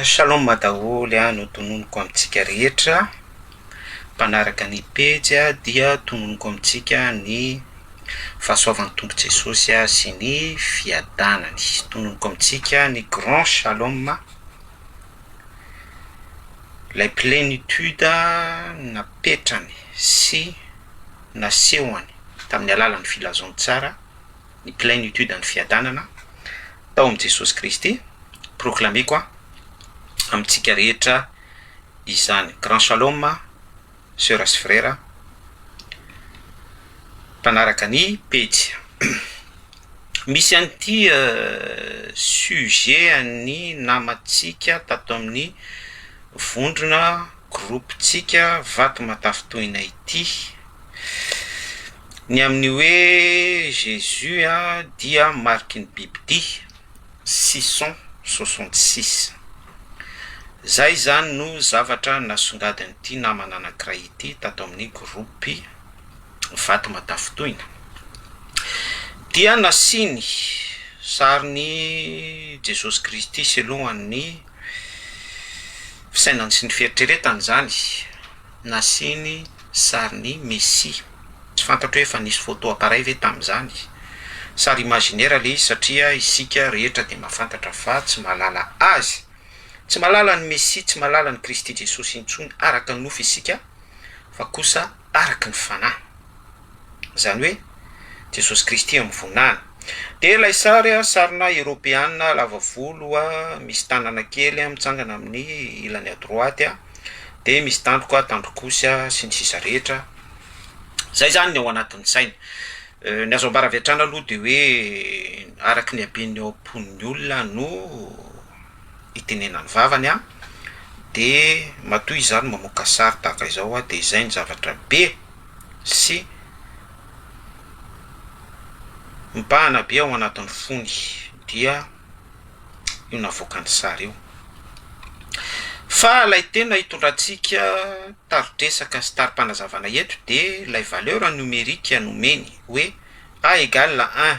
Shalom daholo a, notononiko amintsika rehetra mpanaraka ny pejy a, dia tononiko amintsika ny fahasoavan'ny Tompo Jesosy a sy ny fiadanany, tononiko amintsika ny grand shalom lay plenitude napetrany sy. nasehony tamin'ny alalan'ny filazantsara ny plenitude an'ny fiadanana tao amin'i Jesosy Kristy, proclameko amintsika rehetra izany. Grand Shalom Sœur sy Frera mpanaraka ny pejy. Misy an'ity sujet an'ny namantsika tato amin'ny vondrona groupe tsika vato matafitohina ity. Ny amin'ny hoe jesus a dia mariky ny bibidia, sison soixante six. Zay izany no zavatra nasongadin'ity namana anankiray ity tato amin'ny groupe vato matafitohina. Dia nasiany sarin'i jesosy kristy sy lohan'ny. fisainany sy ny fieritreretany izany, nasiany sarin'i Messi. Tsy fantatro hoe efa nisy photo appareil ve tamin'izany? Sary imaginaire ilay izy satria isika rehetra dia mahafantatra fa tsy mahalala azy. Tsy mahalala an'i Messi, tsy mahalala an'i Kristy Jesosy intsony araka ny nofy isika fa kosa araka ny fanahy. Izany hoe Jesosy Kristy amin'ny voninahiny. Dia ilay sary, sarina Eropeana lava volo misy tanana kely mitsangana amin'ny ilany à droite, dia misy tandroka, tandrok'osy sy ny sisa rehetra. Izay izany ny ao anatin'ny saina. Ny azo ambara avy hatrany aloha dia hoe araka ny haben'ny ao am-pon'ny olona no itenenany vavany an, de matoa izany mamoaka sary tahaka izao an, de izay ny zavatra be sy mibahana be ao anatin'ny fony dia io navoakany sary io, fa ilay tena hitondrantsika tari-dresaka sy tari-panazavana eto de ilay valeur numerique nomeny hoe A égale un.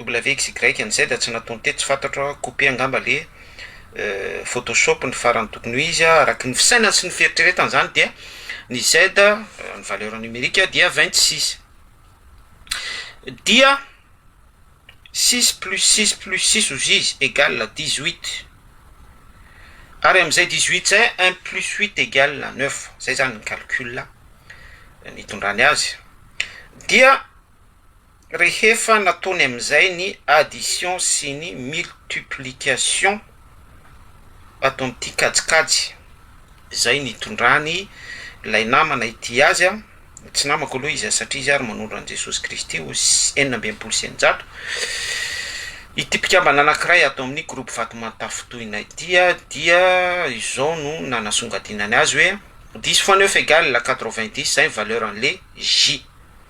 WXYZ tsy nataony teto tsy fantatro aho, couper angamba le photoshop ny farany tokony ho izy araky ny fisainany sy ny fieritreretany zany dia ny Z ny valeur numérique dia vingt six dia six plus six plus six ozy izy egal dix huit ary amizay dix huit zay un plus huit egal neuf zay zany ny calcul nitondrany azy dia Rehefa nataony amin'izay ny addition sy ny multiplication ataon'ity kajikajy izay nitondrany ilay namana ity azy, tsy namako aloha izy satria izy ary manondro an'i Jesosy Kristy ho enina amby enimpolo sy eninjato, ity mpikambana anankiray ato amin'ny groupe vato mantafintohina ity dia izao no nanasongadinany azy hoe, dix fois neuf égale quatre-vingt-dix izay ny valeur an'le J.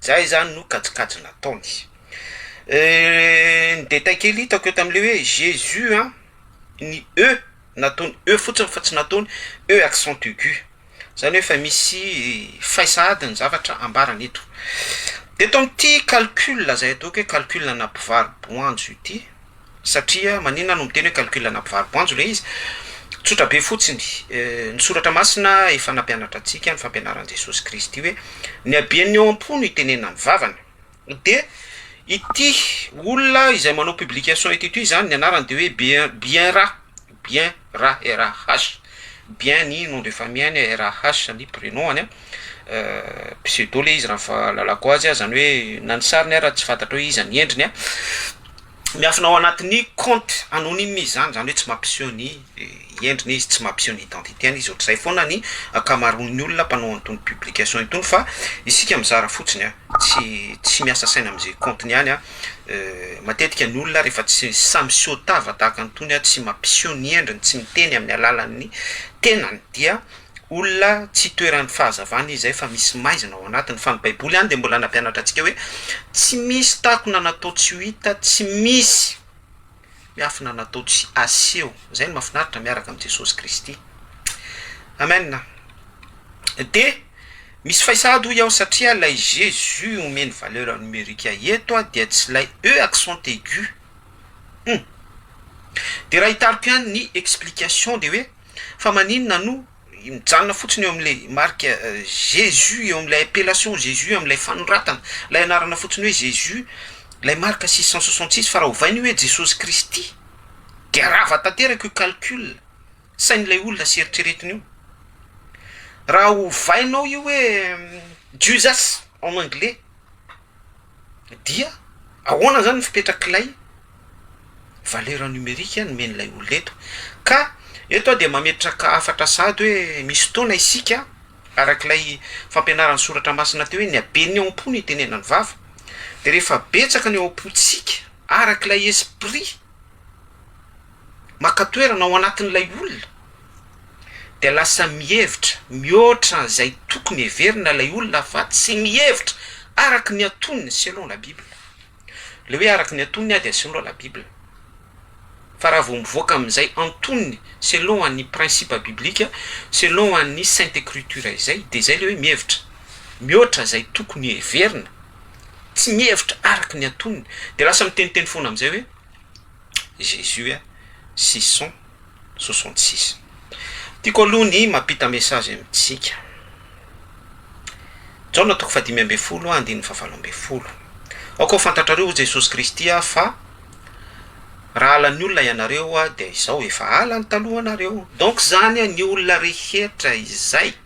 Zay zany no kajikajy nataony. Ny détail kely hitako eo tamin'ilay hoe Jésus an, ny E nataony E fotsiny fa tsy nataony E accent aigu, zany hoe efa misy faisa ady ny zavatra ambarany eto. Dia eto amin'ity calcul izay ataoko hoe calcul ana mpivaro boanjo ity. Satria maninona no miteny hoe calcul ana mpivaro-boanjo ilay izy? Tsotra be fotsiny, ny soratra masina efa nampianatra antsika, ny fampianaran'i Jesosy Kristy hoe ny haben'ny ao am-po no itenenana amin'ny vavany. Dia ity olona izay manao publication ity toy izany, ny anarany dia hoe Bien Bien Ra, Bien ra RH, Bien ny nom de famille-ny, RH ny prenom-ny, pseudo le izy raha ny fahalalako azy, izany hoe na ny sariny ara tsy fantatro hoe iza ny endriny, miafina ao anatin'ny compte anonyme izy izany, izany hoe tsy mampiseho ny endriny izy, tsy mampiseho ny identité-ny izy, ohatr'izay foana ny ankamaroan'ny olona mpanao an'itony publication itony fa isika mizara fotsiny, tsy miasa saina amin'izay compte-ny ihany. Matetika ny olona rehefa tsy samy seho tava tahaka an'itony, tsy mampiseho ny endriny, tsy miteny amin'ny alalan'ny tenany dia olona tsy itoeran'ny fahazavana izy izay fa misy maizina ao anatiny. Fa ny Baiboly ihany dia mbola nampianatra antsika hoe tsy misy takona natao tsy ho hita, tsy misy. Miafina natao tsy aseho. Zay no mafinaritra miaraka am Jesosy Kristy. Amen. De misy fay sahady hoy aho satria lay Jesus omeny valeur numerique eto a dia tsy lay E accent aigu. Hum. De raha hitariko ihany ny explication de hoe fa maninona no mijanona fotsiny eo amin'ilay marika Jesus, eo amin'ilay appellation Jesus, amin'ilay fanoratana, ilay anarana fotsiny hoe Jesus, ilay marika six cent soixante six, fa raha ovaina io hoe Jesosy Kristy, dia rava tanteraka io calcul sain'ilay olona sy eritreretiny io. Raha ovainao io hoe Jesus en anglais. Dia ahoana izany ny fipetrak'ilay valeur numerique nomen'ilay olona eto? Ka eto aho dia mametraka hafatra sahady hoe misy fotoana isika araka ilay fampianaran'ny soratra masina teo hoe ny haben'ny ao am-po no itenenan'ny vava, dia rehefa betsaka ny ao am-pontsika araka ilay esprit, maka toerana ao anatin'ilay olona dia lasa mihevitra mihoatra an'izay tokony heverina ilay olona fa tsy mihevitra araka ny antonony selon la bible. Ilay hoe araka ny antonony aho dia selon la bible. Fa raha vao mivoaka amin'izay antonony selon an'ny principe biblique, selon an'ny sainte ecriture izay dia izay ilay hoe mihevitra mihoatra izay tokony heverina, tsy mihevitra araka ny antonony dia lasa miteniteny foana amin'izay hoe. Jésus a sison soixante six tiako aloha ny mampita message amintsika Jaona toko fahadimy ambin'ny folo andininy fahavalo ambin'ny folo aoka ho fantatrareo hoy Jesosy Kristy aho fa raha halan'ny olona ianareo dia izaho efa hala ny talohanareo donc izany ny olona rehetra izay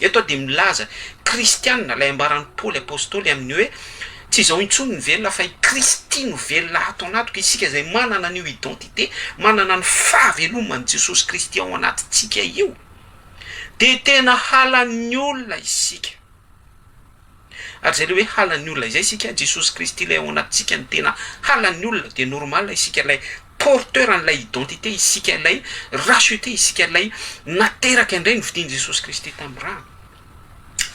Eto aho dia milaza kristiana ilay ambaran'i Paoly apostoly amin'ny hoe tsy izao intsony ny velona fa i Kristy no velona ato anatiko, isika izay manana an'io identité, manana ny fahaveloman'i Jesosy Kristy ao anatintsika io dia tena halan'ny olona isika. Ary zay le hoe halan'ny olona izay isika, Jesosy Kristy ilay ao anatintsika no tena halan'ny olona, dia normal isika ilay porteur an'ilay identité, isika ilay racheter, isika ilay nateraka indray novidian'i Jesosy Kristy tamin'ny rany.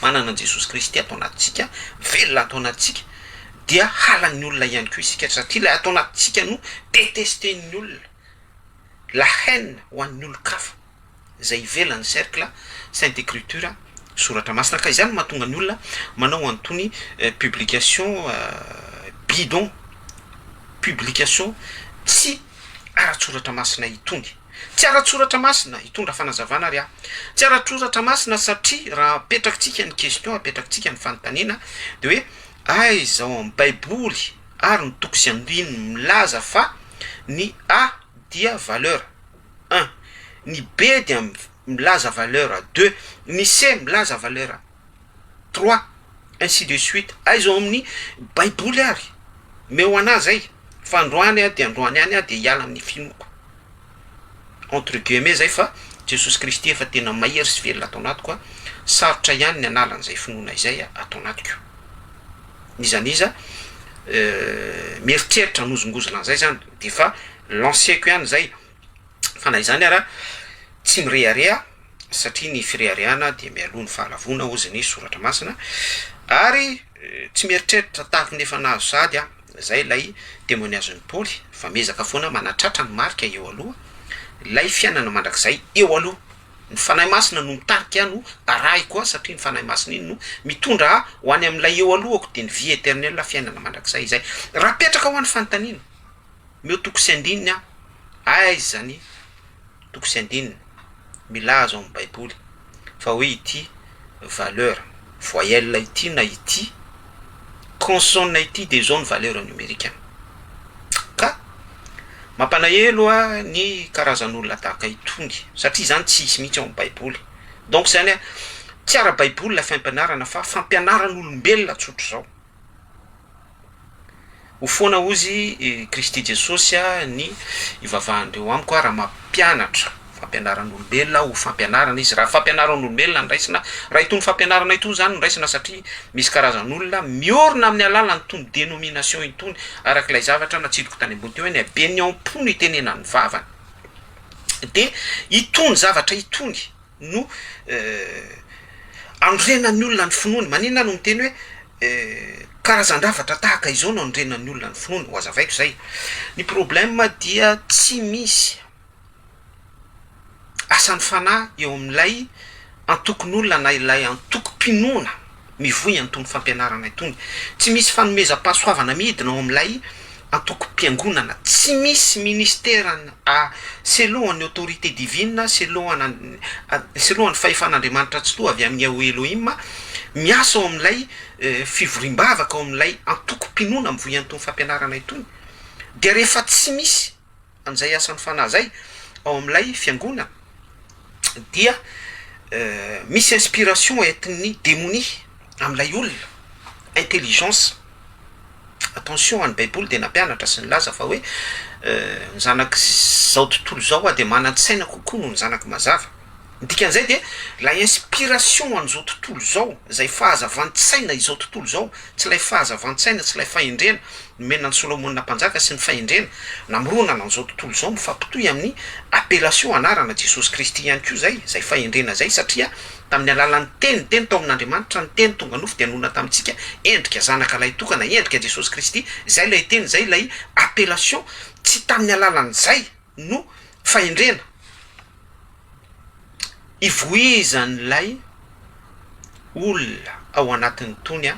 Manana an'i Jesosy Kristy ato anatintsika, velona ato anatintsika, dia halan'ny olona ihany koa isika satria ilay ato anatintsika no detester-n'ny olona. La haine ho an'ny olon-kafa izay ivelan'ny cercle sainte ecriture, soratra masina, ka izany no mahatonga ny olona manao an'itony publication bidon, publication tsy ara-tsoratra masina itony. Tsy ara-tsoratra masina, hitondra fanazavana ary aho, tsy ara-tsoratra masina satria raha apetrakitsika ny question, apetrakitsika ny fanontaniana dia hoe aiza ao amin'ny baiboly, ary ny toko sy andininy milaza fa ny A dia valeur un, ny B dia milaza valeur deux, ny C milaza valeur trois ainsi de suite, aiza ao amin'ny baiboly ary? Omeo anah zay fa androany aho dia androany any aho dia hiala amin'ny finoako. entre guillemets zay fa Jesosy Kristy efa tena mahery sy velona ato anatiko a, sarotra ihany ny hanala an'izay finoana izay ato anatiko. N'iza n'iza mieritreritra hanozongozona an'izay zany defa lanceko ihany zay fa na izany ara tsy mirehareha satria ny fireharehana dia mialoha ny fahalavoana ozy ny soratra masina ary tsy mieritreritra tahako ny efa nahazo sahady aho. Izay ilay temoniazin'i Paoly fa miezaka foana manatratra ny marika eo aloha, ilay fiainana mandrakizay eo aloha. Ny Fanahy Masina no mitarika ahy no arahiko ahy satria ny Fanahy Masina iny no mitondra ahy ho any amin'ilay eo alohako dia ny vie eternelle fiainana mandrakizay izay. Raha apetraka ho any fanontaniana, meo toko sy andininy aho, aiza ny. toko sy andininy milaza ao amin'ny Baiboly fa hoe ity valeur voyelle ity na ity consonne ity dia izao ny valeur numerique-ny. Ka mampanahelo ahy ny karazan'olona tahaka itony satria izany tsy hisy mihitsy ao amin'ny Baiboly. Donc izany hoe tsy ara-baiboly ilay fampianarana fa fampianaran'olombelona tsotr'izao. Ho foana hozy i Kristy Jesosy aho ny ivavahan'ireo amiko aho raha mampianatra fampianaran'olombelona aho ho fampianarana izy. Raha fampianaran'olombelona no raisina, raha itony fampianarana itony izany no raisina satria misy karazan'olona miorina amin'ny alalan'ny tony denomination itony araka ilay zavatra natsidiko tany ambony teo hoe ny haben'ny ao am-po no itenenan'ny vavany dia itony zavatra itony no anorenan'ny olona ny finoany. Maninona no miteny hoe karazan-javatra tahaka izao no anorenan'ny olona ny finoany? Ho azavaiko izay. Ny problema dia tsy misy asan'ny fanahy eo amin'ilay antokon'olona na ilay antokom-pinoana. mivoy an'itony fampianarana itony. Tsy misy fanomezam-pahasoavana midina ao amin'ilay antokom-piangonana. Tsy misy ministeran a seloan'ny autorité divine, seloana seloan'ny fahefan'Andriamanitra Tsitoha avy amin'ny Yahweh Elohim, miasa ao amin'ilay fivoriam-bavaka ao amin'ilay antokom-pinoana mivoy an'itony fampianarana itony. Dia rehefa tsy misy. an'izay asan'ny Fanahy izay ao amin'ilay fiangonana dia misy inspiration entin'ny demonia amin'ilay olona, intelligence, attention ny baiboly dia nampianatra sy nilaza fa hoe ny zanak'izao tontolo izao dia manan-tsaina kokoa noho ny zanaky mazava. Ny dikan'izay dia, ilay inspiration an'izao tontolo izao, izay fahazavan-tsaina izao tontolo izao, tsy ilay fahazavan-tsaina, tsy ilay fahendrena nomena an'i Solomona Mpanjaka sy ny fahendrena namoronana an'izao tontolo izao mifampitohy amin'ny appellation anarana Jesosy Kristy ihany koa izay, izay fahendrena izay, satria tamin'ny alalan'ny Teny, Teny tao amin'Andriamanitra, ny Teny tonga nofo dia nonina tamintsika, endrika Zanaka Lahy Tokana, endrika Jesosy Kristy, izay ilay Teny, izay ilay appellation, tsy tamin'ny alalan'izay. no fahendrena ivoizan'ilay olona ao anatin'itony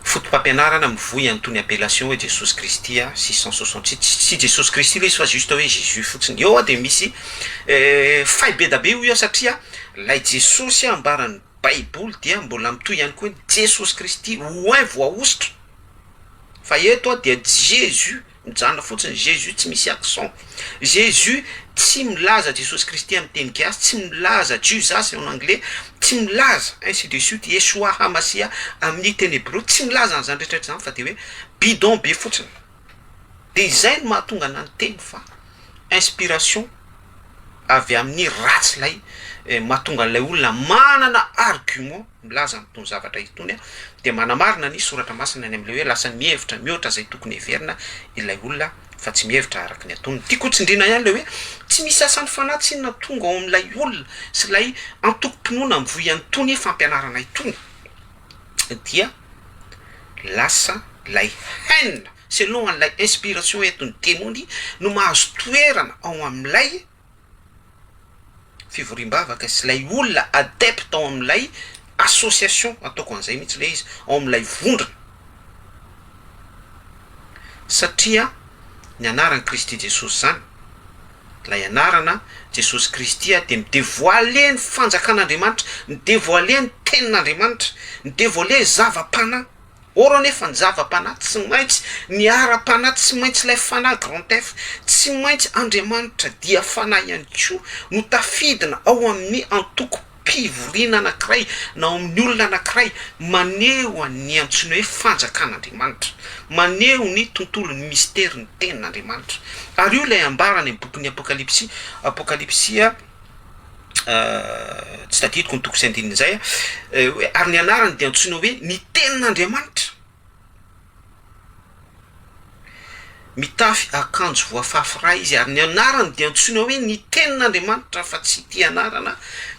fotopampianarana mivoy an'itony appellation hoe Jesosy Kristy six cent soixante six, tsy Jesosy Kristy ilay izy fa juste hoe Jésus fotsiny, eo dia misy fay be da be hoy aho satria ilay Jesosy ambaran'ny baiboly dia mbola mitohy ihany koa hoe Jesosy Kristy, oint, voahosotra. Fa eto aho dia Jesus mijanona fotsiny, Jesus tsy misy accent. Jesus tsy milaza Jesosy Kristy amin'ny teny gasy, tsy milaza Jesus en anglais, tsy milaza ainsi de suite, Yeshua Hamasiah amin'ny teny hebreo, tsy milaza an'izany rehetrarehetra izany fa dia hoe bidon be fotsiny. Dia izay no mahatonga anahy niteny fa inspiration avy amin'ny ratsy ilay mahatonga an'ilay olona manana argument milaza an'itony zavatra itony aho, dia manamarina ny Soratra Masina ny amin'ilay hoe lasa mihevitra mihoatra izay tokony heverina ilay olona fa tsy mihevitra araka ny atonony. Tiako hotsindriana ihany ilay hoe tsy misy asan'ny Fanahy tsinona tonga ao amin'ilay olona sy ilay antokom-pinoana mivoy an'itony fampianarana itony dia lasa ilay haine selon an'ilay inspiration entin'ny demony no mahazo toerana ao amin'ilay fivoriam-bavaka izy, ilay olona adepte ao amin'ilay association, ataoko an'izay mihitsy ilay izy, ao amin'ilay vondrona, satria ny anaran'i Kristy Jesosy izany, ilay anarana Jesosy Kristy dia mi-devoiler ny fanjakan'Andriamanitra, mi-devoiler ny tenin'Andriamanitra, mi-devoiler zava-panahy. Or anefa ny zava-panahy tsy maintsy miara-panahy, tsy maintsy ilay Fanahy grand F, tsy maintsy Andriamanitra dia Fanahy ihany koa no tafidina ao amin'ny antokom-pivoriana anankiray na ao amin'ny olona anankiray maneho an'ny antsoiny hoe fanjakan'Andriamanitra, maneho ny tontolon'ny mistery ny tenin'Andriamanitra. Ary io ilay ambara any amin'ny bokin'ny Apokalypsy, Apokalypsy. tsy tadidiko ny toko sy andininy izay hoe ary ny anarany dia antsoina hoe ny tenin'Andriamanitra, mitafy akanjo voafafy ra izy ary ny anarany dia antsoina hoe ny tenin'Andriamanitra fa tsy ity anarana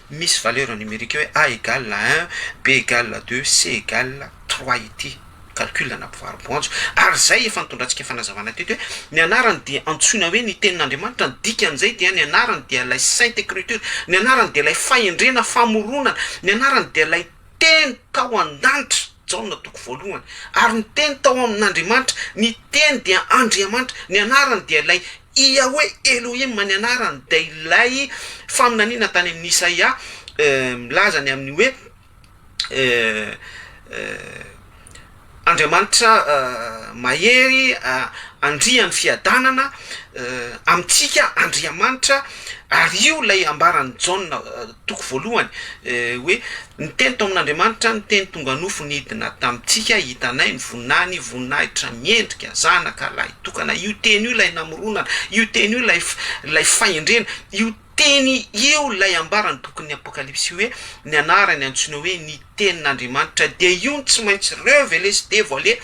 misy valeur numerique hoe A égale un, B égale deux, C égale trois ity. calcul na mpivaro-boanjo. Ary izay efa nitondrantsika fanazavana teto hoe ny anarany dia antsoina hoe ny tenin'Andriamanitra, ny dikan'izay dia ny anarany dia ilay Sainte Ecriture, ny anarany dia ilay fahendrena, famoronana, ny anarany dia ilay Teny tao an-danitra, Jaona toko voalohany, ary ny Teny tao amin'Andriamanitra, ny Teny dia Andriamanitra, ny anarany dia ilay Yahweh Elohim, ny anarany dia ilay faminaniana tany amin'i Isaia milaza ny amin'ny hoe Andriamanitra mahery andrian'ny fiadanana amintsika Andriamanitra ary io ilay ambaran'i Jaona toko voalohany hoe ny teny tao amin'Andriamanitra ny teny tonga nofo nidina tamintsika hitanay ny voninahiny voninahitra miendrika zanaka lahitokana io teny io ilay namoronana io teny io ilay ilay fahendrena io Teny io ilay ambaran'ny bokin'ny Apokalypsy hoe ny anarany antsoina hoe ny Tenin'Andriamanitra, dia io no tsy maintsy revele sy devoile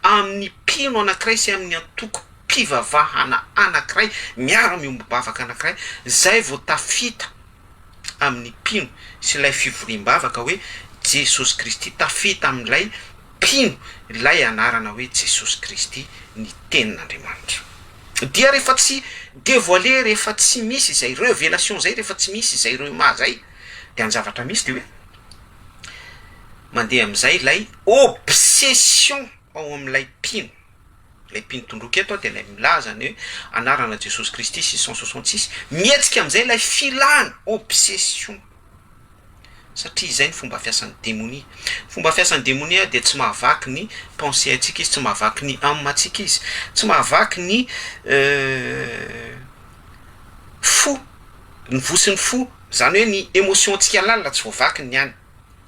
amin'ny mpino anankiray sy amin'ny antokom-pivavahana anankiray miara-miombom-bavaka anankiray, izay vao tafita amin'ny mpino sy ilay fivoriam-bavaka hoe Jesosy Kristy, tafita amin'ilay mpino ilay anarana hoe Jesosy Kristy, ny Tenin'Andriamanitra. Dia rehefa tsy devoiler, rehefa tsy misy izay revelation izay, rehefa tsy misy izay rhema izay, dia ny zavatra misy dia hoe mandeha amin'izay ilay obsession ao amin'ilay mpino. Ilay mpino tondroka eto dia ilay milaza ny hoe anarana Jesosy Kristy six cent soixante six. Mihetsika amin'izay ilay filana, obsession. Satria izay ny fomba fiasan'ny demonia. Ny fomba fiasan'ny demonia dia tsy mahavaky ny pensée antsika izy, tsy mahavaky ny âme antsika izy, tsy mahavaky ny fo, ny vosin'ny fo, izany hoe ny émotion antsika lalina tsy voavakin'ny any.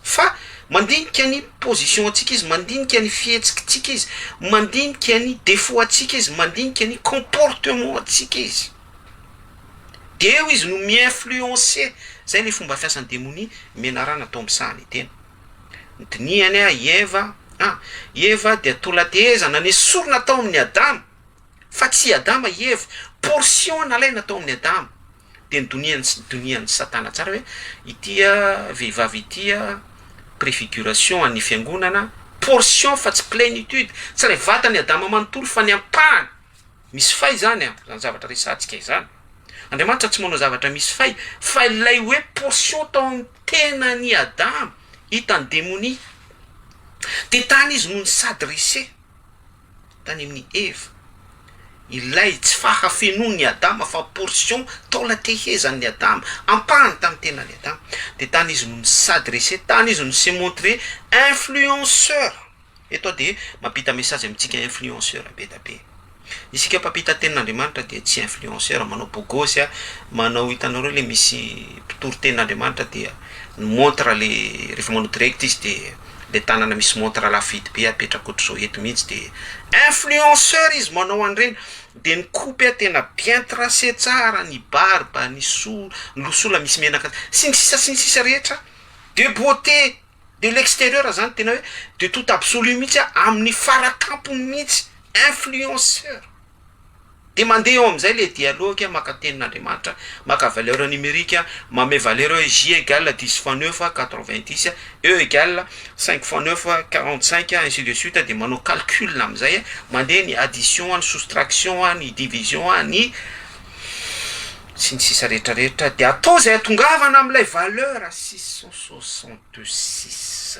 Fa mandinika ny position antsika izy, mandinika ny fihetsikitsika izy, mandinika ny defaut antsika izy, mandinika ny comportement antsika izy. De eo izy no mi-influencer, zay le fomba fiasan'ny demonia, menarana atao misaha ny tena. Dinihany a i Eva, an, i Eva dia tolantehezana nesorina tao amin'ny Adama. Fa tsy i Adama i Eva. Portion nalaina tao amin'i Adama. Dia ny donian'i sy donian'i Satana tsara hoe ity vehivavy ity prefiguration an'ny fiangonana, portion fa tsy plenitude, tsy ilay vatan'i Adama manontolo fa ny ampahany. Misy fay izany an, izany zavatra resahantsika izany. Andriamanitra tsy manao zavatra misy fay, fa ilay hoe portion tao amin'ny tenan'i Adama, hitan'ny demonia. Dia tany izy no ni-s'adresser. Tany amin'ny Eva, ilay tsy fahafenoan'i Adama fa portion, taola tehezan'i Adama, ampahany tamin'ny tenan'i Adama, dia tany izy no ni-s'adresser, tany izy no s'est montré influenceur. Eto aho dia mampita message amintsika influenceur be dia be. Isika mpampita tenin'Andriamanitra dia tsy influenceur manao bogosy, manao hitanareo ilay misy mpitory tenin'Andriamanitra dia ni-montre ilay rehefa manao direct izy dia. le tanana misy montre lafo vidy be apetrako otrzao eto mihitsy de influenceur izy manao an'ireny de ny kopy a tena bien tracé tsara ny barbe ny sola ny losola misy menaka sy ny sisa sy ny sisa rehetra de beauté de l'exterieur zany tena hoe de tout absolu mihitsy a amin'ny faratampony mihitsy influenceur Dia mandeha eo amin'izay ilay dialogue, maka tenin'Andriamanitra, maka valeur numérique, manome valeur hoe J égale dix fois neuf, quatre vingt dix, E égale cinq fois neuf, quarante cinq, ainsi de suite, dia manao calcul amin'izay, mandeha ny addition, ny soustraction, ny division, ny sy ny sisa rehetra rehetra, dia atao izay hahatongavana amin'ilay valeur six cent soixante six.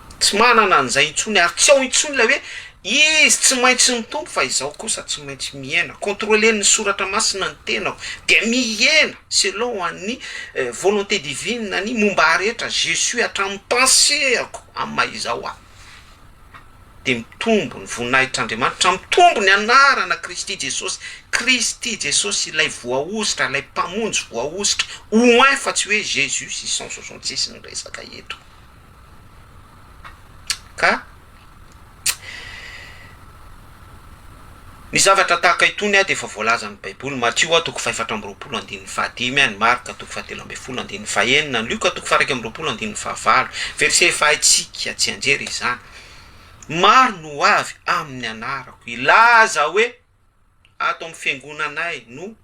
Tsy manana an'izay intsony ary tsy ao intsony ilay hoe izy tsy maintsy mitompo fa izaho kosa tsy maintsy mihena. Controlen'ny soratra masina ny tenako dia mihena selon an'ny volonté divine ny momba ahy rehetra, je suis hatramin'ny pensée-ako amin'ny maha izaho ahy. Dia mitombo ny voninahitr'Andriamanitra, mitombo ny anarana Kristy Jesosy, Kristy Jesosy ilay voahosotra, ilay Mpamonjy voahosotra, oint fa tsy hoe Jesus six cent soixante six ny resaka eto. Ka ny zavatra tahaka itony dia efa voalazan'ny Baiboly, Matio a, toko fahefatra amby roapolo andininy fahadimy, ny Marka toko fahatelo ambin'ny folo andininy fahenina, ny Lioka toko faha-iraika amby roapolo andininy fahavalo, verset efa haintsika tsianjery izany. Maro ny ho avy amin'ny anarako, hilaza hoe. ato amin'ny fiangonanay no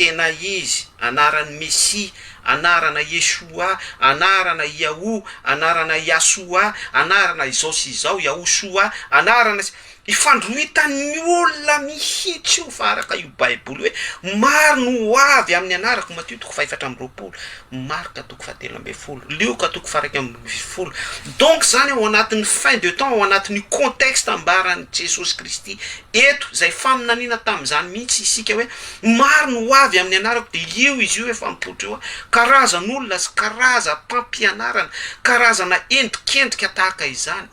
tena izy, anaran'ny Mesia, anarana Yeshua, anarana Yahoo, anarana Yasua, anarana izao sy izao, Yahushua, anarana sy. Ifandrohitan'ny olona mihitsy io fa araka io Baiboly hoe maro no ho avy amin'ny anarako, Matio toko fahefatra amby roapolo, Marka. toko fahatelo ambin'ny folo, Lioka toko faharaika ambin'ny folo. Donc izany ao anatin'ny fin de temps, ao anatin'io contexte ambaran'i Jesosy Kristy eto, izay faminaniana tamin'izany mihitsy isika hoe maro ny ho avy amin'ny anarako, dia io izy io efa mipoitra io, karazan'olona sy karazam-pampianarana, karazana endrikendrika tahaka izany.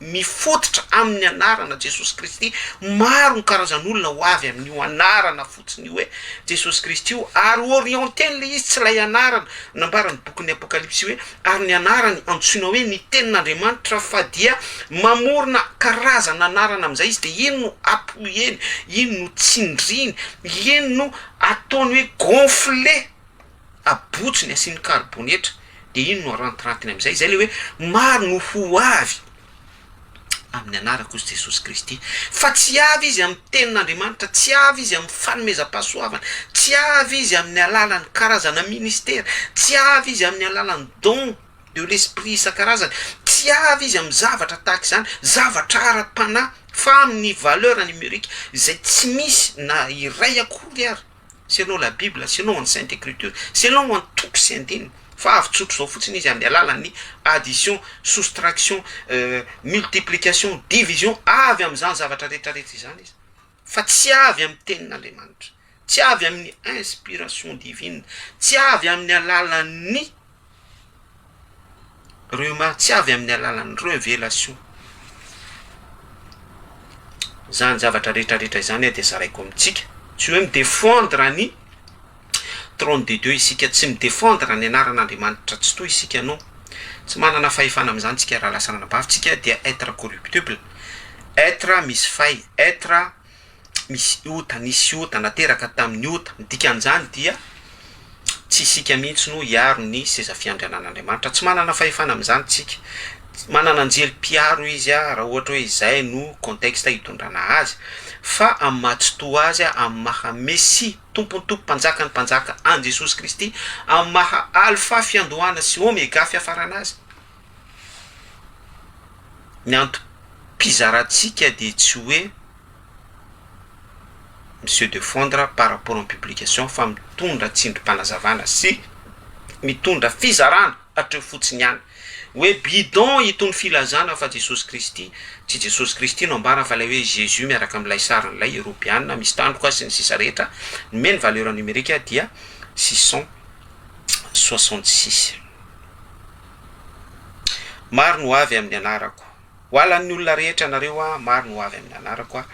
Mifototra amin' ny anarana Jesosy Kristy, maro ny karazan' olona ho avy amin' io anarana fotsiny io hoe Jesosy Kristy io, ary orienté ilay izy, tsy ilay anarana nambaran' ny bokin' ny Apôkalipsy hoe ary ny anarany antsoina hoe ny Tenin' Andriamanitra, fa dia mamorona karazan' anarana amin' izay izy, dia iny no apoheny, iny no tsindriny, iny no ataony hoe gonflé. abotsony asiany karibonetra dia iny no arantirantiny amin'izay, izay ilay hoe maro no ho avy amin'ny anarak'I Jesosy Kristy, fa tsy avy izy amin'ny tenin'Andriamanitra, tsy avy izy amin'ny fanomezam-pahasoavana, tsy avy izy amin'ny alalan'ny karazana ministera, tsy avy izy amin'ny alalan'ny don de l'esprit isan-karazany, tsy avy izy amin'ny zavatra tahaka izany, zavatra ara-panahy, fa amin'ny valeur numerique izay tsy misy na iray akory ary. selon la bible, selon any sainte ecriture, selon any toko sy andininy, fa avy tsotra izao fotsiny izy amin'ny alalan'ny addition, soustraction, multiplication, division, avy amin'izany zavatra rehetra rehetra izany izy, fa tsy avy amin'ny tenin'Andriamanitra, tsy avy amin'ny inspiration divine, tsy avy amin'ny alalan'ny. Ireo mahatsiavy amin'ny alalan'ny revelation. Izany zavatra rehetra rehetra izany dia zaraiko amintsika, tsy hoe mi-defendre ny trône de Dieu isika, tsy mi-defendre ny anaran'Andriamanitra Tsitoha isika, non, tsy manana fahefana amin'izany isika raha lasa anabavy, isika dia être corruptible, être misy fay, être. tsy misy ota, nisy ota, nateraka tamin'ny ota. Ny dikan'izany dia tsy isika mihitsy no hiaro ny seza fiandrianan'Andriamanitra. Tsy manana fahefana amin'izany isika. Manana anjely mpiaro izy raha ohatra hoe izay no contexte hitondrana azy, fa amin'ny maha tsitoha azy, amin'ny maha Mesia, Tompon'ny Tompo, Mpanjakan'ny Mpanjaka an'i Jesosy Kristy, amin'ny maha Alfa, Fiandohana, sy Omega, Fiafarana azy, Ny antom-pizarantsika dia tsy hoe mi-se defendre par rapport amin'ny publication fa mitondra tsindrim-panazavana sy mitondra fizarana hatreo fotsiny ihany. Hoe bidon itony filazana fa Jesosy Kristy, tsy Jesosy Kristy no ambara fa ilay hoe Jésus miaraka amin'ilay sariny ilay Eoropeana misy tandroka sy ny sisa rehetra nomeny valeur numerique dia six cent soixante six. Maro ny ho avy amin'ny anarako. Ho alan'ny olona rehetra anareo aho, maro ny ho avy amin'ny anarako aho.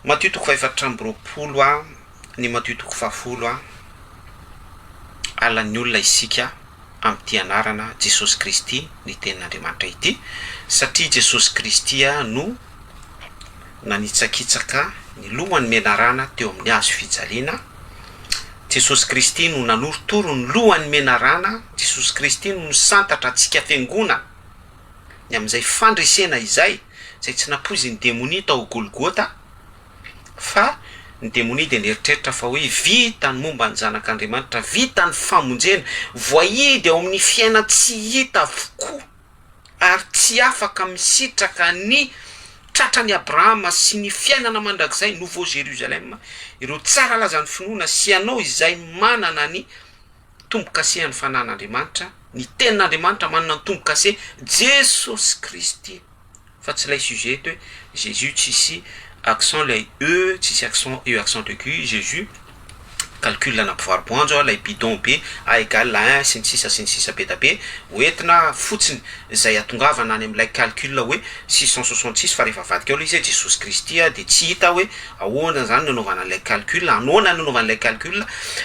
Matio toko fahefatra amby roapolo a, ny Matio toko fahafolo a, alan'ny olona isika amin'ity anarana Jesosy Kristy ny tenin'Andriamanitra ity, satria Jesosy Kristy no nanitsakitsaka ny lohan'ny menarana teo amin'ny hazo fijaliana, Jesosy Kristy no nanorotoro ny lohan'ny menarana, Jesosy Kristy no nisantatra antsika fiangonana ny amin'izay fandresena izay, izay tsy nampoizin'ny demonia tao Golgota, fa ny demonia dia nieritreritra fa hoe vita ny momba ny zanak'Andriamanitra, vita ny famonjena, voahidy ao amin'ny fiaina tsy hita avokoa. ary tsy afaka misitraka ny tratran'i Abrahama sy ny fiainana mandrakizay, Nouveau Jérusalem, ireo tsara lazan'ny finoana sy ianao izay manana ny tombo-kasen'ny fanan'Andriamanitra, ny Tenin'Andriamanitra manana ny tombo-kase, Jesosy Kristy. Fa tsy ilay sujet eto hoe Jesus tsisy accent ilay E tsisy accent E accent aigu Jesus calcul ana mpivaroboanjo a lay bidon be A egal à un sy ny sisa sy ny sisa be da be ho entina fotsiny zay atongavana any amilay calcul hoe six cent soixante six fa rehefa avadika ao lay izy hoe Jesosy Kristy a de tsy hita hoe Ahoana izany no anaovana an'ilay calcul? Anoana ny anaovana ilay calcul?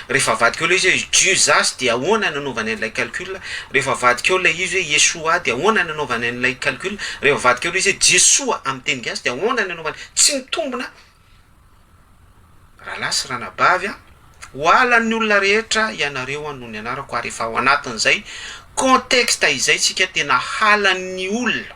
Rehefa avadika eo ilay izy hoe Juzas dia ahoana ny anaovany an'ilay calcul? Rehefa avadika eo ilay izy hoe Yeshua dia ahoana ny anaovany an'ilay calcul? Rehefa avadika eo ilay izy hoe Jesoa amin'ny teny gasy dia ahoana ny anaovany? Tsy mitombina rahalahy sy ranabavy a! Ho alan'ny olona rehetra ianareo no nianarako ary efa ao anatin'izay contexte izay isika tena halan'ny olona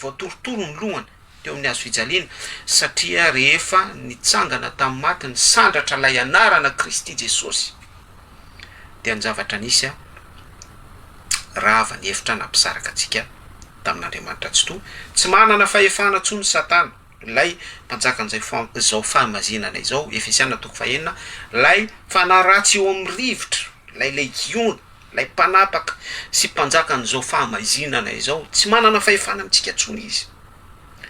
Voatorotoro ny lohany teo amin'ny hazo fijaliana, satria rehefa nitsangana tamin'ny maty nisandratra ilay anarana Kristy Jesosy, dia ny zavatra nisy rava ny efitra nampisaraka antsika tamin'Andriamanitra Tsitoha. Tsy manana fahefana intsony Satana, ilay mpanjakan'izao fahamazinana izao, Efesiana toko fahenina, ilay fanahy ratsy eo amin'ny rivotra, ilay legiona. Ilay Mpanapaka sy Mpanjakan'izao fahamaizinana izao, tsy manana fahefana amintsika intsony Izy.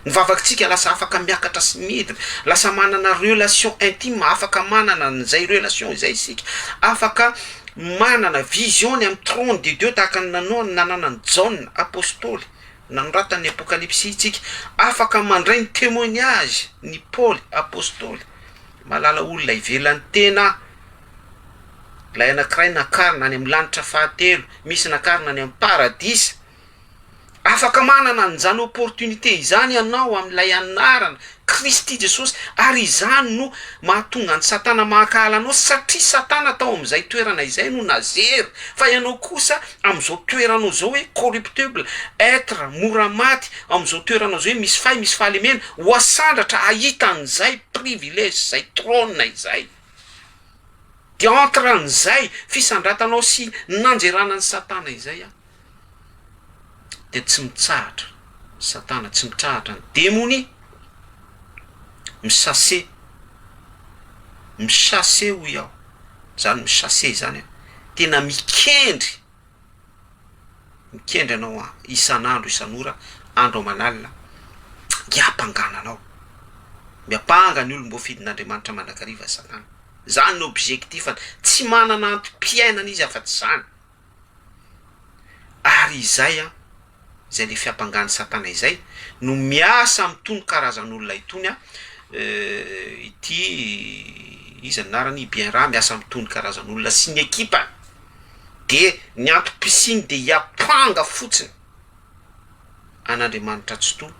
Ny vavakintsika lasa afaka miakatra sy midina, lasa manana relation intime, afaka manana an'izay relation izay isika, afaka manana vision ny amin'ny trône de Dieu tahaka ny nananan'i Jaona Apostoly nanoratany ny Apokalypsy isika, afaka mandray ny témoignage n'i Paoly Apostoly, malala olona ivelan'ny tena. Ilay anankiray nakarina any amin'ny lanitra fahatelo, misy nakarina any amin'ny paradisa. Afaka manana an'izany opportunité izany ianao amin'ilay anarana Kristy Jesosy ary izany no mahatonga an'i Satana mahakahala anao satria Satana tao amin'izay toerana izay no nazery fa ianao kosa amin'izao toeranao izao hoe corruptible, être mora maty, amin'izao toeranao izao hoe misy fay, misy fahalemena, ho asandratra hahita an'izay privilège, izay trône izay. Dia entre an'izay fisandratanao sy nanjerana an'i Satana izay aho dia tsy mitsahatra Satana, tsy mitrahatra ny demony, mi-chasser, mi-chasser hoy aho, izany mi-chasser izany an, tena mikendry Mikendry anao aho isan'andro isan'ora andro aman'alina hiampangana anao. Miampanga ny olom-boafidin'Andriamanitra mandrakariva Satana. Izany no objectif-ny. Tsy manana antom-piainana izy afa-tsy izany. Ary izay an! izay le fiampangany satana izay no miasa amitony karazan'olona itony a ity iza anarany bien ra miasa amitony karazan'olona sy ny ekipany de ny antom-pisiny de hiampanga fotsiny an'Andriamanitra Tsitoha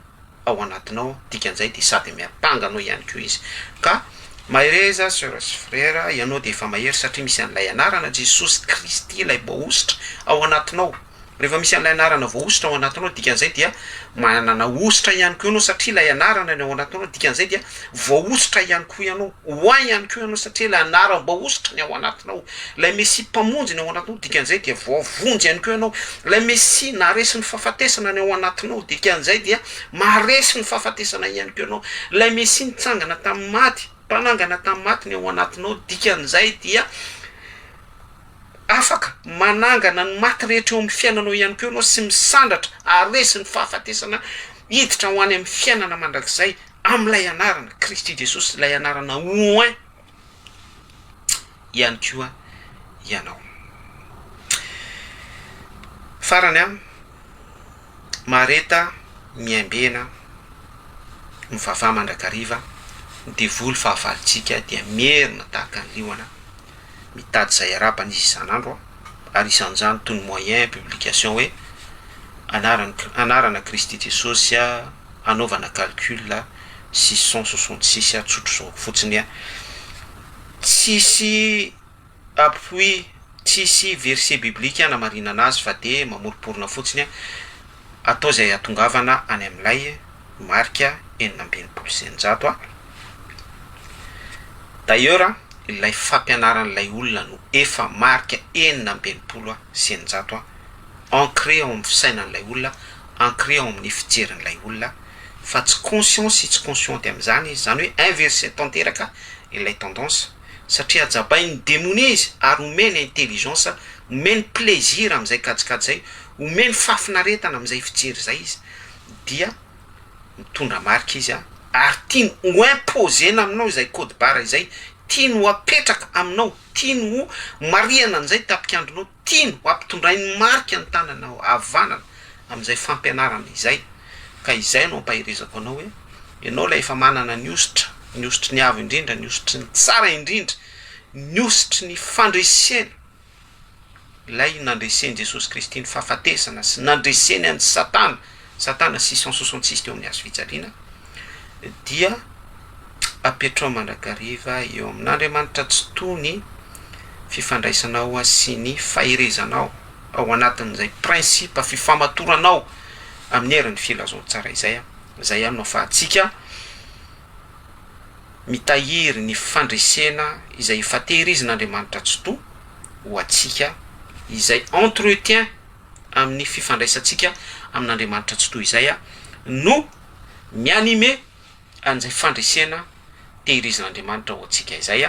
ao anatinao dikan'izay dia sady miampanga anao ihany koa izy ka mahereza soeur sy frère ianao dia efa mahery satria misy an'ilay anarana Jesosy Kristy ilay boahosotra ao anatinao rehefa misy an'ilay anarana voahosotra ao anatinao dikan'izay dia manana hosotra ihany koa ianao satria ilay anarana ny ao anatinao dikan'izay dia Voahosotra ihany koa ianao. Ho ahy ihany koa ianao satria ilay anaram-boahosotra ny ao anatinao. Ilay Mesia Mpamonjy ny ao anatinao, dikan'izay dia voavonjy ihany koa ianao. Ilay Mesia naharesy ny fahafatesana ny ao anatinao, dikan'izay dia maharesy ny fahafatesana ihany koa ianao. Ilay Mesia nitsangana tamin'ny maty, mpanangana tamin'ny maty ny ao anatinao, dikan'izay dia afaka manangana ny maty rehetra eo amin'ny fiainanao ihany koa ianao sy misandratra haharesy ny fahafatesana hiditra ho any amin'ny fiainana mandrakizay. amin'ilay anarana, Kristy Jesosy, ilay anarana oint ihany koa ianao. Farany an, Mareta miaimbena, mivavaha mandrakariva, ny devoly fahavalontsika dia mierona tahaka ny liona, mitady izay harapany izy isan'andro, ary isan'izany toy ny moyen publication hoe, anaran'i, anarana Kristy Jesosy, hanaovana calcul six cent soixante six tsotro zao fotsiny a! Tsisy appui, tsisy verset biblique hanamarinana azy fa dia mamoromporona fotsiny a! Atao izay hatongavana any amin'ilay marika enina amby enimpolo sy eninjato a! D'ailleurs ilay fampianaran'ilay olona no efa marika enina amby enimpolo sy eninjato a! Ancré ao amin'ny fisainan'ilay olona. ancré ao amin'ny fijerin'ilay olona fa tsy conscient sy tsy consciente amin'izany izy, izany hoe inverser tanteraka ilay tendance satria hajabain'ny demonia izy ary omeny intelligence, omeny plaisir amin'izay kajikajy izay, omeny fahafinaretana amin'izay fijery izay izy dia mitondra marika izy ary tiany ho imposer-na aminao izay code barre izay, tiany ho apetraka aminao, tiany ho marihana an'izay tapikandronao. Tiany ho ampitondrain'ny marika ny tananao havanana amin'izay fampianarana izay, ka izay no ampaherezako anao hoe, ianao ilay efa manana ny hositra, ny hositry ny Avo Indrindra, ny hositry ny Tsara Indrindra, ny hositry ny fandresena, ilay nandresen'i Jesosy Kristy ny fahafatesana sy nandreseny an'i Satana Satana sy cent soixante six teo amin'ny hazo fijaliana dia apetrao mandrakariva eo amin' Andriamanitra tsy toa ny fifandraisanao sy ny faherezanao ao anatin'izay principe fifamatoranao amin'ny herin'ny filazantsara izay, izay amin'ny afahantsika mitahiry ny fandresena izay efa tehirizin'Andriamanitra tsy toa ho antsika izay entretien amin'ny fifandraisantsika amin'Andriamanitra tsy toy izay no mi-animer an'izay fandresena tehirizin'Andriamanitra ho antsika izay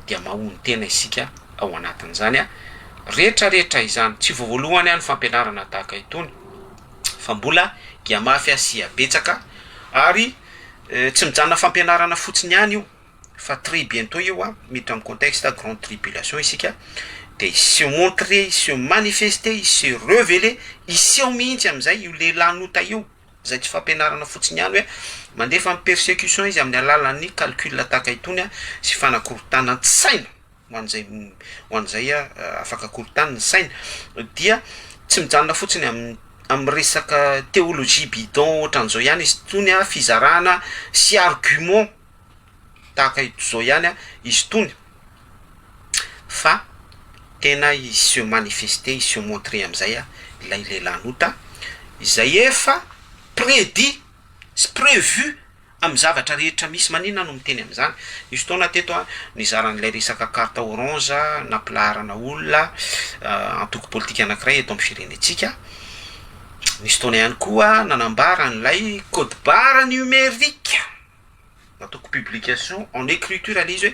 dia mahonon-tena isika ao anatin'izany rehetra rehetra izany. Tsy vao voalohany ny fampianarana tahaka itony fa mbola giamafy sy abetsaka ary tsy mijanona fampianarana fotsiny ihany io. fa très bientot io an, miditra amin'ny contexte grande tribulation isika dia hiseho montrer, hiseho manifester, hiseho reveler, hiseho mihitsy amin'izay io lehilahin'ota io, izay tsy fampianarana fotsiny ihany hoe mandefa ny persecution izy amin'ny alalan'ny calcul tahaka itony an, sy fanakorotanan-tsaina ho an'izay ho an'izay afaka korontana ny sainy, dia tsy mijanona fotsiny amin'ny amin'ny resaka theologie bidon ohatran'izao ihany izy itony an, fizarana sy argument. tahaka izao ihany izy itony fa tena hi se manifester, hi se montrer amin'izay ilay lelan'ota izay efa prédit sy prévu amin'ny zavatra rehetra misy, maninona no miteny amin'izany? nisy fotoana teto aho nizara an'ilay resaka carte orange nampilaharana olona antoko politika anankiray eto amin'ny firenentsika, nisy fotoana ihany koa nanambara an'ilay code barre numérique. Nataoko publication en écriture ilay izy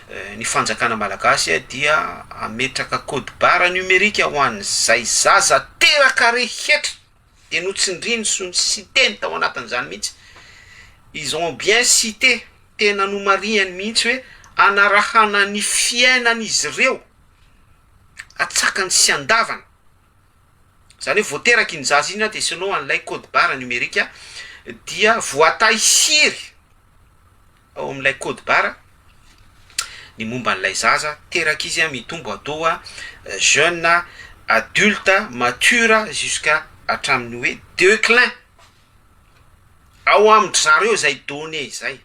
hoe ny fanjakana malagasy dia hametraka code barre numérique ho an'izay zaza teraka rehetra dia notsindriany sy ny siteny tao anatin'izany mihitsy, ils ont bien cité, tena nomarihany mihitsy hoe hanarahana ny fiainan'izy ireo atsakany sy andavany. Izany hoe vao teraka iny zaza iny dia selon an'ilay code barre numérique dia voatahiry ao amin'ilay code barre ny momba an'ilay zaza teraka izy mitombo atoa jeune adulte mature jusqu'à hatramin'ny hoe declin ao amin-dry zareo izay données izay.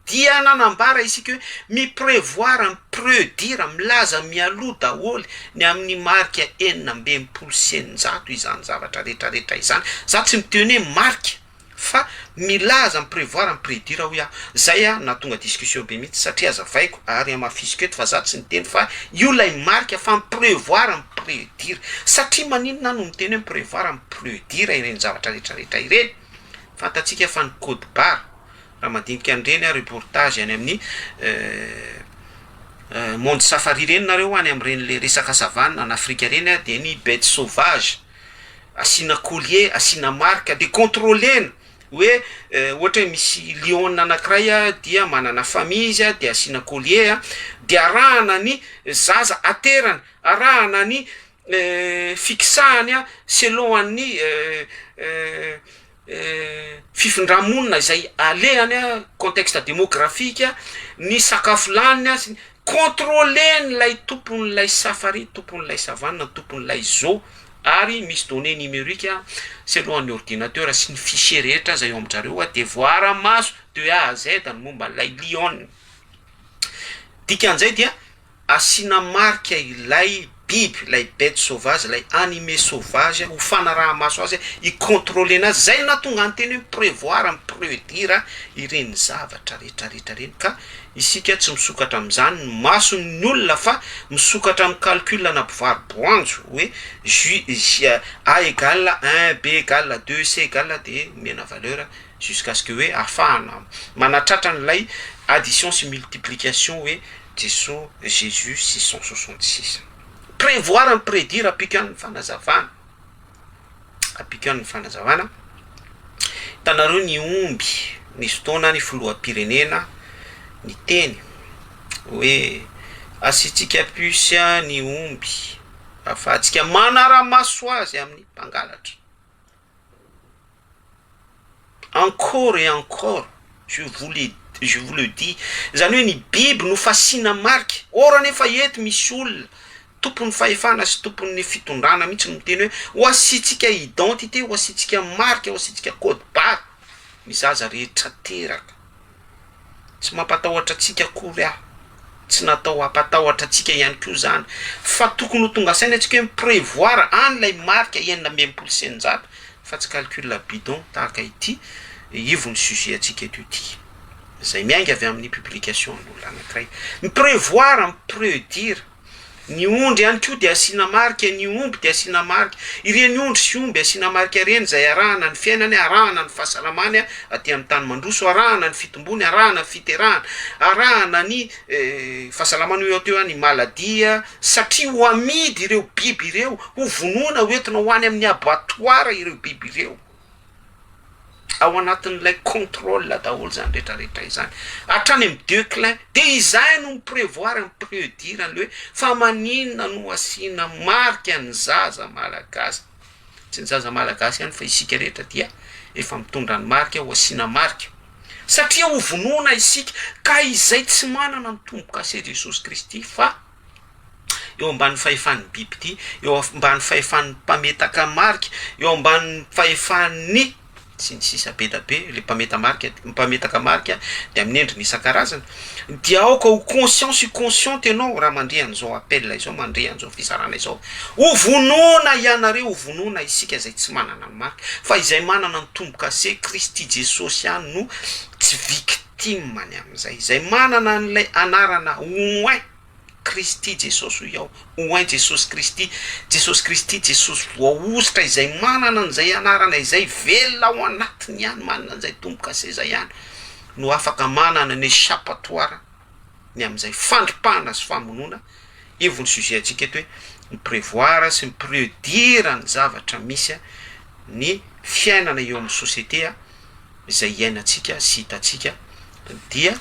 dia nanambara isika hoe mi-prevoir, mi-predire, milaza mialoha daholo ny amin'ny marika enina amby enimpolo sy eninjato izany zavatra rehetrarehetra izany. Izaho tsy miteny hoe marika fa milaza, mi-prevoir, mi-predire hoy aho. Izay nahatonga discussion be mihitsy satria azavaiko ary hamafisiko eto fa izaho tsy niteny fa io ilay marika fa mi-prevoir, mi-predire. Satria maninona aho no miteny hoe mi-prevoir, mi-predire ireny zavatra rehetrarehetra ireny? Fantatsika fa ny code barre Raha mandinika an'ireny a reportage any amin'ny monde safari ireny nareo any amin'ireny le resaka savane any Afrika ireny a dia ny bete sauvage asiana collier asiana marika dia controlena hoe ohatra hoe misy lion anankiray a dia manana famille izy a dia asiana collier a dia arahana ny zaza aterany arahana ny fixahany a selon an'ny fifindra-monina izay alehany a, contexte demographique, ny sakafo laniny a, contrôler-n'ilay tompon'ilay safari, tompon'ilay savane, tompon'ilay zoo, ary misy données numériques a, selon ny ordinateur sy ny fichier rehetra aza eo amin-dRareo a, dia voaara maso de A à Z ny momban'ilay lion. Dikan'izay dia. Asiana marika ilay biby, ilay bete sauvage, ilay animé sauvage, ho fanaraha-maso azy, hi-contrôler-na azy. Izay no nahatonga ny teny hoe mi-prévoir, mi-prédire ireny zavatra rehetra rehetra ireny. Ka isika tsy misokatra amin'izany ny mason'ny olona fa misokatra amin'ny calcul ana mpivaro-boanjo hoe J, J, A égal un, B égal deux, C égal dia omena valeur jusqu'à ce que hoe ahafahana manatratra an'ilay addition sy multiplication hoe Jesoa, Jesus, six cent soixante six. Prévoir and prédire appliquant ny fanazavana, appliquant ny fanazavana, hitanareo ny omby nisy fotoana ny filoham-pirenena niteny hoe asiantsika puce ny omby ahafahantsika manara-maso azy amin'ny mpangalatra. Encore et encore, je vous le je vous le dis, izany hoe ny biby no fasiana marika, or anefa eto misy olona tompon'ny fahefana sy tompon'ny fitondrana mihitsy no miteny hoe ho asiantsika identité, ho asiantsika marika, ho asiantsika code barre ny zaza rehetra teraka. Tsy mampatahotra antsika akory aho, tsy natao hampatahotra antsika ihany koa izany, fa tokony ho tonga saina antsika hoe mi-prevoir any ilay marika enina amby enimpolo sy eninjato fa tsy calcul bidon tahaka ity ivon'ny sujet antsika eto ity, izay miainga avy amin'ny publication an'olona anankiray, mi-prevoir, mi-predire. Ny ondry ihany koa dia asiana marika, ny omby dia asiana marika. Ireny ondry sy omby asiana marika ireny izay arahana ny fiainany, arahana ny fahasalamany aty amin'ny tany mandroso, arahana ny fitombony, arahana ny fiterahany, arahana ny fahasalamany ho eo hatreo any maladie, satria ho amidy ireo biby ireo, ho vonoina, ho entina ho any amin'ny abattoir ireo biby ireo. Ao anatin'ilay contrôle daholo izany rehetra rehetra izany, hatrany amin'ny deux clin, dia izay no mi-prevoir ny pre-dire an'ilay hoe fa maninona no asiana marika ny zaza malagasy, tsy ny zaza malagasy ihany fa isika rehetra dia efa mitondra ny marika ho asiana marika, satria hovonoina isika ka izay tsy manana ny tombo-kase Jesosy Kristy fa. eo ambany fahefan'ny bibidia, eo ambany fahefan'ny mpametaka marika, eo ambany fahefan'ny sy ny sisa be da be le mpameta marika mpametaka marika de amin'ny endriny isan-karazany dia aoka ho conscient sy consciente ianao raha mandre an'izao appel izao mandre an'izao fizarana izao ho vonoina ianareo ho vonoina isika izay tsy manana ny marika fa izay manana ny tombo-kase Kristy Jesosy ihany no tsy victime Tim any amin'izay izay manana an'ilay anarana Ouen Kristy Jesosy hoy aho, Ouen Jesosy Kristy, Jesosy Kristy, Jesosy voahosotra izay manana an'izay anarana izay velona ao anatiny ihany, manana an'izay tombo-kaseza ihany no afaka manana ny echapatoire ny amin'izay fandripahana sy famonoana, io vao ny sujet antsika eto hoe mi prevoir sy mi predire ny zavatra misy ny fiainana eo amin'ny société izay iainantsika sy hitantsika dia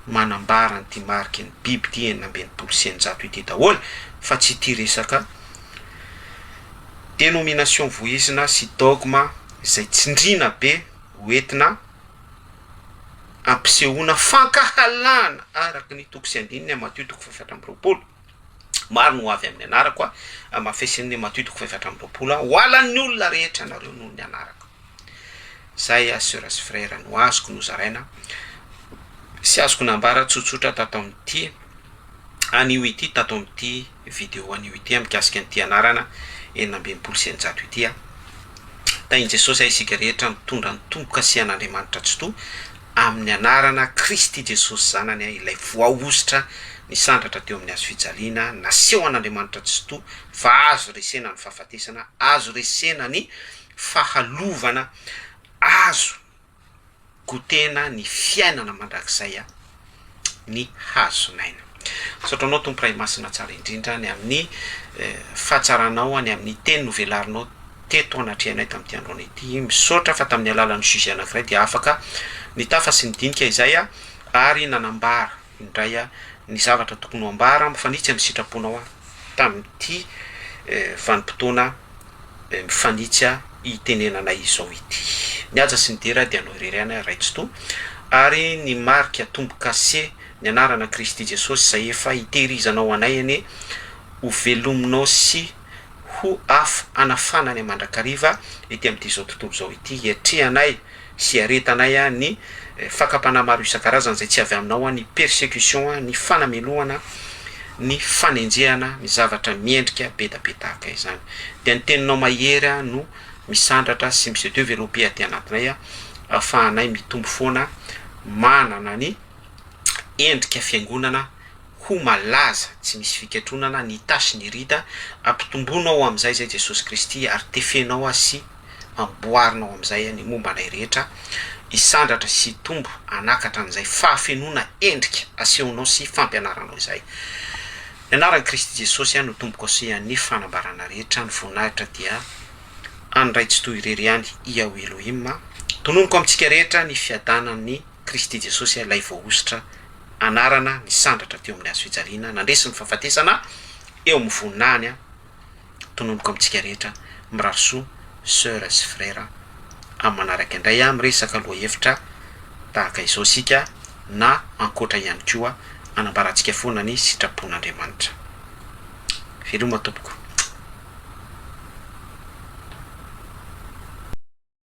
manambara an'ity mariky ny biby ity enina amby enimpolo sy eninjato ity daholo fa tsy ity resaka dénomination vohizina sy dogme izay tsindriana be ho entina ampisehoana fankahalana araky ny toko sy andininy Matio toko fahefatra amby roapolo. Maro ny ho avy amin'ny anarako aho, amafesin'ny Matio toko fahefatra amby roapolo aho, hohalan'ny olona rehetra ianareo noho ny anarako. Izay aho sœur sy frère no azoko nozaraina sy azoko nambara tsotsotra tato amin'ity anio ity, tato amin'ity vidéo anio ity aho mikasika an'ity anarana enina amby enimpolo sy eninjato ity aho. Tahin'i Jesosy aho isika rehetra mitondra ny tombo-kasihan'Andriamanitra Tsitoha Amin'ny anarana Kristy Jesosy Zanany, ilay voahosotra nisandratra teo amin'ny hazo fijaliana, naseho an'Andriamanitra Tsitoha fa azo resena ny fahafatesana, azo resena ny fahalovana, azo gotena ny fiainana mandrakizay ny hazon'aina. Misaotra anao Tompo Ray Masina Tsara indrindra ny amin'ny fahatsaranao ny amin'ny teny novelarinao teto anatrehanay tamin'ity androany ity. Misaotra fa tamin'ny alalan'ny sujet anankiray dia afaka nitafa sy nidinika izay aho ary nanambara indray ny zavatra tokony ho ambara mifanitsy amin'ny sitraponao aho tamin'ity vanim-potoana eh, mifanitsy ah, itenenana izao ity. Ny haja sy ny dera dia anao irery ihany ah, Ray Tsitoha, ary ny marika tombo-kase, ny anarana Kristy Jesosy izay efa hitehirizanao anay anie, ho velominao sy ho afo hanafana anay mandrakariva ety amin'ity izao tontolo izao ity hiatrehanay, sy hiaretanay an ny fakam-panahy maro isan-karazany izay tsy avy aminao an ny persecution an ny fanamelohana ny fanenjehana ny zavatra miendrika be da be tahaka izany dia ny teninao mahery an no misandratra sy mi-se developper aty anatinay an ahafahanay mitombo foana manana ny endrika fiangonana ho malaza tsy misy fikatronana ny tâche ny ride an ampitomboinao amin'izay izay Jesosy Kristy ary tefenao an sy amboarina ao amin'izay any momba anay rehetra hisandratra sy hitombo hanakatra an'izay fahafenoana endrika asehonao sy fampianaranao izay. Ny anaran'i Kristy Jesosy aho no tompoko sy an'ny fanambarana rehetra ny voninahitra dia an'i Ray Tsitoha irery ihany Iao Elohim tononiko amintsika rehetra ny fiadanan'i Kristy Jesosy ilay voahosotra anarana nisandratra teo amin'ny hazofijaliana nandresy ny fahafatesana eo amin'ny voninahiny tononiko amintsika rehetra mirary soa soeur sy frera am manaraka indray a miresaka lohahevitra tahaka izao isika na ankoatra ihany koa anambarantsika foana ny sitrapon'Andriamanitra veloma tompoko.